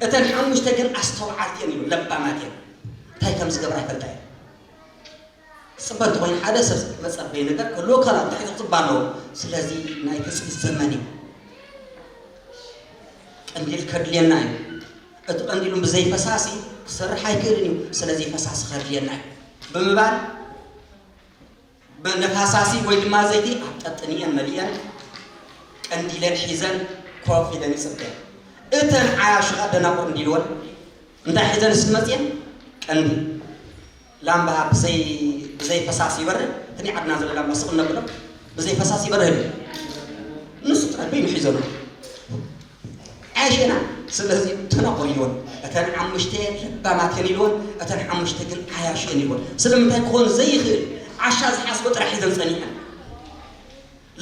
እተን ሓሙሽተ ግን ኣስተውዓልቲ እየን ኢሉ። ለባማት እየን። እንታይ ከም ዝገብራ ይፈልጣ እየን። ክጽበ እንተኾይኑ ሓደ ሰብ መጸበዪ ነገር ክህልዎ ከላ እንታይ ክጽበ ኣለዎ። ስለዚ ናይ ትጽቢት ዘመን እዩ። ቀንዲል ከድልየና እዩ። እቲ ቀንዲሉ ብዘይ ፈሳሲ ክሰርሕ ኣይክእልን እዩ። ስለዚ ፈሳሲ ከድልየና እዩ ብምባል ብነፋሳሲ ወይ ድማ ዘይቲ ኣብ ቀጥኒኤን መሊኤን ቀንዲለን ሒዘን ኮፍ ኢለን ይጽበያ። እተን ዓያሹ ከኣ ደናቁር እንዲልወን እንታይ ሒዘን እስኪ መጽየን ቀንዲ ላምባ ብዘይ ብዘይ ፈሳሲ ይበርህ እቲ ዓድና ዘሎ ላምባ ስቅ እነብሎ ብዘይ ፈሳሲ ይበርህ ንሱ ጥራይ ኮይኑ ሒዘን ዓሸና ስለዚ ተነቕርዮን እተን ሓሙሽተ ለባማት እየን ኢልወን እተን ሓሙሽተ ግን ዓያሹ እየን ኢልወን ስለምንታይ ክኾን ዘይኽእል ዓሻ ዝሓስቦ ጥራሕ ሒዘን ጸኒሐን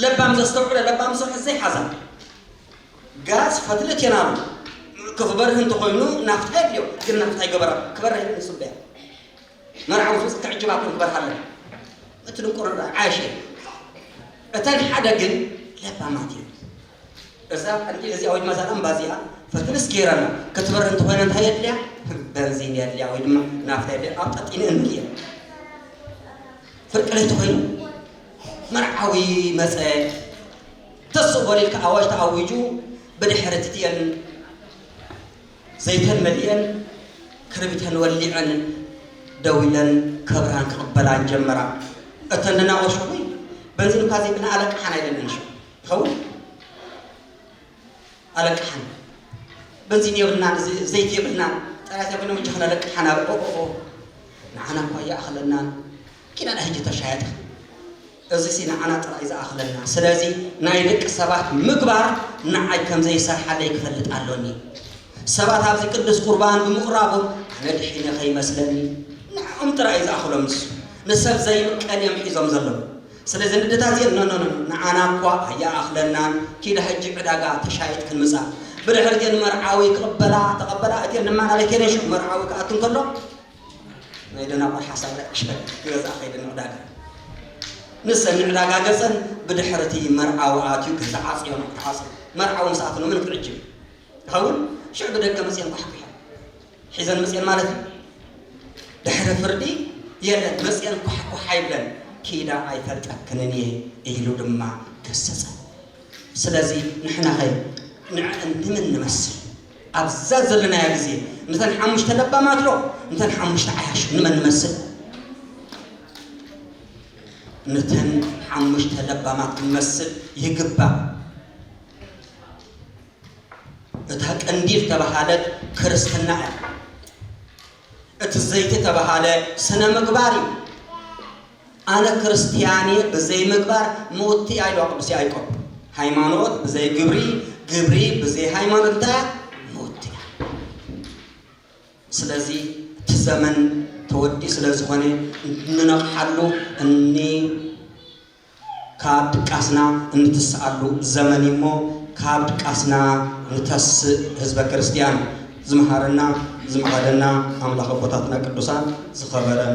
ለባም ዘስተውዕለ ለባም ዝሰርሐ ዘይሓዛ ጋዝ ፈትለት እየን ኣሉ ክበርህ እንተኾይኑ ናፍታ የድልዮ ግን ናፍታ ይገበራ ክበርህ ንጽበያ መርዓዊ ፍጽ ትዕጅባ ክንግበር ኣለና እቲ ድንቁርና ዓሽ እተን ሓደ ግን ለባማት እዩ እዛ ቀንዲ እዚኣ ወይ ድማ እዛ ላምባ እዚኣ ፈትንስ ገይረና ክትበር እንተኾይነ እንታይ የድልያ በንዚን የድልያ ወይ ድማ ናፍታ የድልያ ኣብ ጠጢነ እንድየ ፍርቂ ለይቲ ኮይኑ መርዓዊ መፀ ተስእ በሊልካ ኣዋጅ ተኣዊጁ ብድሕሪ ትትየን ዘይተን መሊኤን ክርቢተን ወሊዐን ደው ኢለን ከብራን ክቕበላን ጀመራ። እተን ንናወሾ ወይ በንዚን እኳ ዘይብለን ኣለቃሓና ኢለንን ሹ ይኸውን ኣለቃሓን በንዚን የብልናን ዘ- ዘይቲ የብልናን ጠራይ ዘይብሎም እጃኽና ኣለቃሓና ኦኦኦ ንዓና እኳ ይኣኽለናን ኪና ንሕጂ ተሻየጥ ኢኻ እዚሲ ንዓና ጥራይ ዝኣኽለና ስለዚ ናይ ደቂ ሰባት ምግባር ንዓይ ከም ዘይሰርሓለይ ክፈልጥ ኣሎኒ ሰባት ኣብዚ ቅዱስ ቁርባን ብምቕራቦም ኣነ ድሒነ ከይመስለኒ ንዕኦም ጥራይ እዩ ዝኣኽሎም ንሱ ንሰብ ዘይምቀል እዮም ሒዞም ዘለዉ ስለዚ ንደታት እዚኤን ኖኖኖ ንዓና እኳ ኣይኣኽለናን ኪዳ ሕጂ ዕዳጋ ተሻየጥ ክንምጻ ብድሕሪ እቲኤን መርዓዊ ክቕበላ ተቐበላ እቲኤን ድማ ናበይ ከይደን ሽዑ መርዓዊ ክኣቱ እንከሎ ናይ ደናቁር ሓሳብ ዳኣ ዕሸል ንገዛኣ ከይደን ዕዳጋ ንሰን ንዕዳጋ ገጸን ብድሕሪ እቲ መርዓዊ ኣትዩ ገዛ ዓጽዮ ነው ተዓጽዮ መርዓዊ ምስ ኣትኖ ምን ክዕጅብ ይኸውን ሽዑ ብደገ መጽየን ኳሕኲሐን ሒዘን መጽየን ማለት እዩ ድሕሪ ፍርዲ የለን መጽየን ኳሕኳሕ ኣይብለን ኪዳ ኣይፈልጠክንን እየ ኢሉ ድማ ገሰጸ ስለዚ ንሕና ኸ ንምን ንመስል ኣብዛ ዘለናያ ግዜ ምተን ሓሙሽተ ለባማት ዶ ምተን ሓሙሽተ ዓያሹ ንመን ንመስል? ምተን ሓሙሽተ ለባማት ክንመስል ይግባእ። እታ ቀንዲ ዝተበሃለት ክርስትና እያ። እቲ ዘይቲ ተበሃለ ስነ ምግባር እዩ። ኣነ ክርስትያን እየ ብዘይ ምግባር ሞት እያ ኢልዋ ቅዱስ ያእቆብ ሃይማኖት ብዘይ ግብሪ ግብሪ ብዘይ ሃይማኖት እንታይ እያ ሞት እያ ስለዚ እቲ ዘመን ተወዲኡ ስለ ዝኾነ እንነቕሓሉ እኒ ካብ ድቃስና እንትስኣሉ ዘመን እዩ እሞ ካብ ድቃስና ንተስእ ህዝበ ክርስትያን ዝመሃረና ዝመቐደና ኣምላኽ ኣቦታትና ቅዱሳን ዝኸበረን